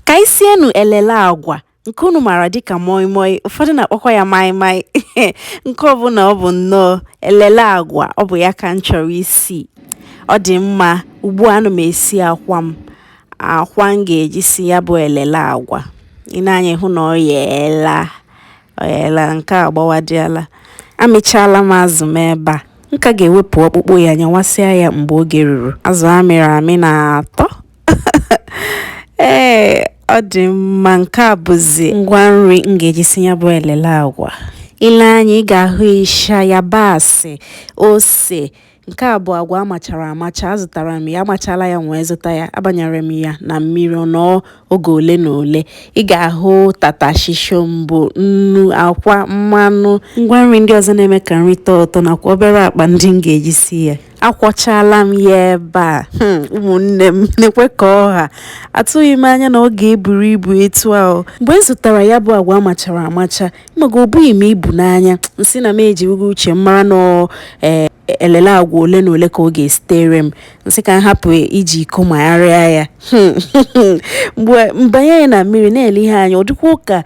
Ka anyị sienụ elele agwa nke unu maara dịka moi moi, ụfọdụ na-akpọkwa ya mai mai nke ọbụla ọ bụ nnọọ elele agwa ọ bụ ya ka m chọrọ isi. Ọ dị mma ugbu a ana m esi akwa m, akwa m ga-eji si ya bụ elele agwa. I nee anya ị hụ na ọ yeela, ọ yeela nke a agbawadịala. Amịchaala m azụ m ebe a, m ka ga-ewepụ ọkpụkpụ ya nyawasịa ya mgbe oge ruru. Azụ a mịrị amị na-atọ. ee ọ dị mma nke a bụzi ngwa nri m ga-eji si ya bụ elele agwa i lee anya ị ga-ahụ ịsha yabasị ose nke a bụ agwa amachara amacha azụtara m ya amachala ya wee zụta ya abanyere m ya na mmiri ọ nọọ oge ole na ole ị ga-ahụ tatashi shọmbọ nnu akwa mmanụ ngwa nri ndị ọzọ na-eme ka nri tọọ ụtọ nakwa obere akpa ndị m ga-eji si ya akwọchala m ya ebe a hmm, ụmụnne m nekwa ka ọ ha atụghị m anya na ọ ga-eburu ibu etu ahụ mgbe m zụtara ya bụ agwa amachara amacha maka o bughị m ibu n'anya m sị na m ejighị uche m mara na e, elele agwa ole na ole ka ọ ga-esitere m m sị ka m hapụ iji iko magharịa ya hmm, mgbe m banye ya na mmiri na-ele ihe a anya ọ dịkwa ụka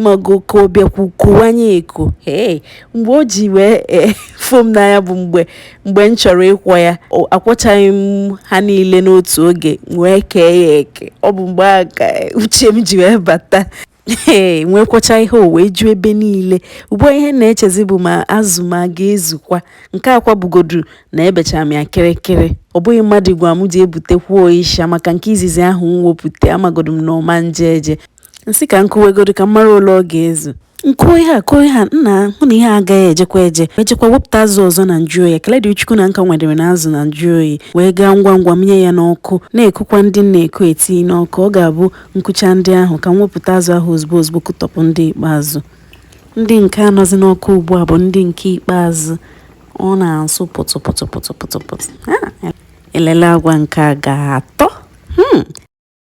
mago ka ọ bịakwu kowanye eko ee mgbe o ji wee e, fo m n'anya bụ mgbe mgbe m chọrọ ịkwọ ya akwọchaghị m ha niile n'otu oge wee kee ya eke ọ bụ mgbe a ka e, uche m ji wee bata ee m wee kwọchaa ihe a o wee ju ebe niile ugbu a ihe m na-echezi bụ ma azụ m ọ ga-ezukwa nke akwa bụgodu na ebechara m ya kịrịkịrị ọ bụghị mmadụ gwa m jee butekwuo isha maka nke izizi ahụ m wepụta amagodu m na ọ ma eje eje m sị ka m kuwegodu ka m mara ole ọ ga-ezu m kuo ihe a kuo ihe a m ahụ na ihe a agaghị ejekwa eje m jekwa wepụta azụ ọzọ na nju oyi ekele dị chukwu na m ka nwedere na azụ na nju oyi wee gaa ngwa ngwa mịnye ya n'ọkụ na-ekukwa ndị m na-eku eti n'ọkụ ọ ga-abụ m kuchaa ndị ahụ ka m wepụta azụ ahụ ozugbo ozugbo kutọpụ ndị ikpeazụ ndị nke a nọzi n'ọkụ ugbu a bụ ndị nke ikpeazụ ọ na-asụ pụtụ pụtụ pụtụ pụtụ pụtụ elele agwa nke a ga-atọ hmm.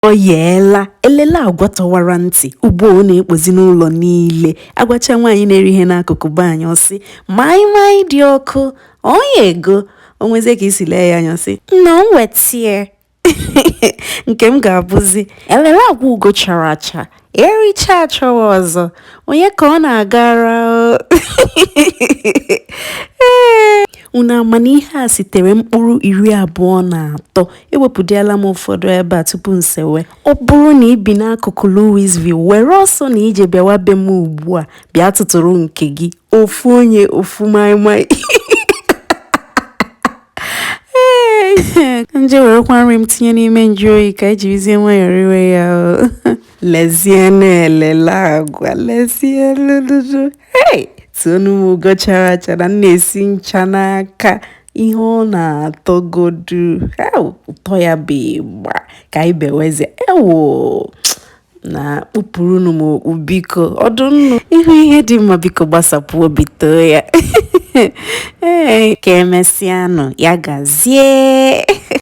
Ọ yeela, elele agwa tọwara ntị, ugbu a ọ na-ekpozi n'ụlọ niile. Agwacha nwaanyị na-ere ihe n'akụkụ be anyị, ọ sị, maịmaị dị ọkụ, ọ yego. O nwezie ka i si lee ya anya, ọ sị, nna m wetie. Nke m ga-abụzi, elele agwa ugo chara acha. ericha achọwa ọzọ onye ka ọ na-agara ee unu ama na ihe a sitere mkpụrụ iri abụọ na atọ ewepụdịala m ụfọdụ ebe a tupu m sewe ọ bụrụ na ị bi n'akụkụ Louisville were ọsọ na ije bịawa be m ugbu a bịa tụtụrụ nke gị ofu onye ofu maịmaị nje werekwa nri m tinye n'ime njụ oyi ka e jirizie nwayọọ riwe ya o lezie na-elele agwa lezie lụlụlụ hei toonụ m ugo chara acha na m na-esi ncha n'aka ihe ọ na-atọgodu ew, ụtọ ya bụ ịgba ka anyị bewezie ewo na kpupụrụnụ m okpu biko ọdụ nnụ ị hụ ihe dị mma biko gbasapụ obi too ya ee ka e mesịanụ ya gazie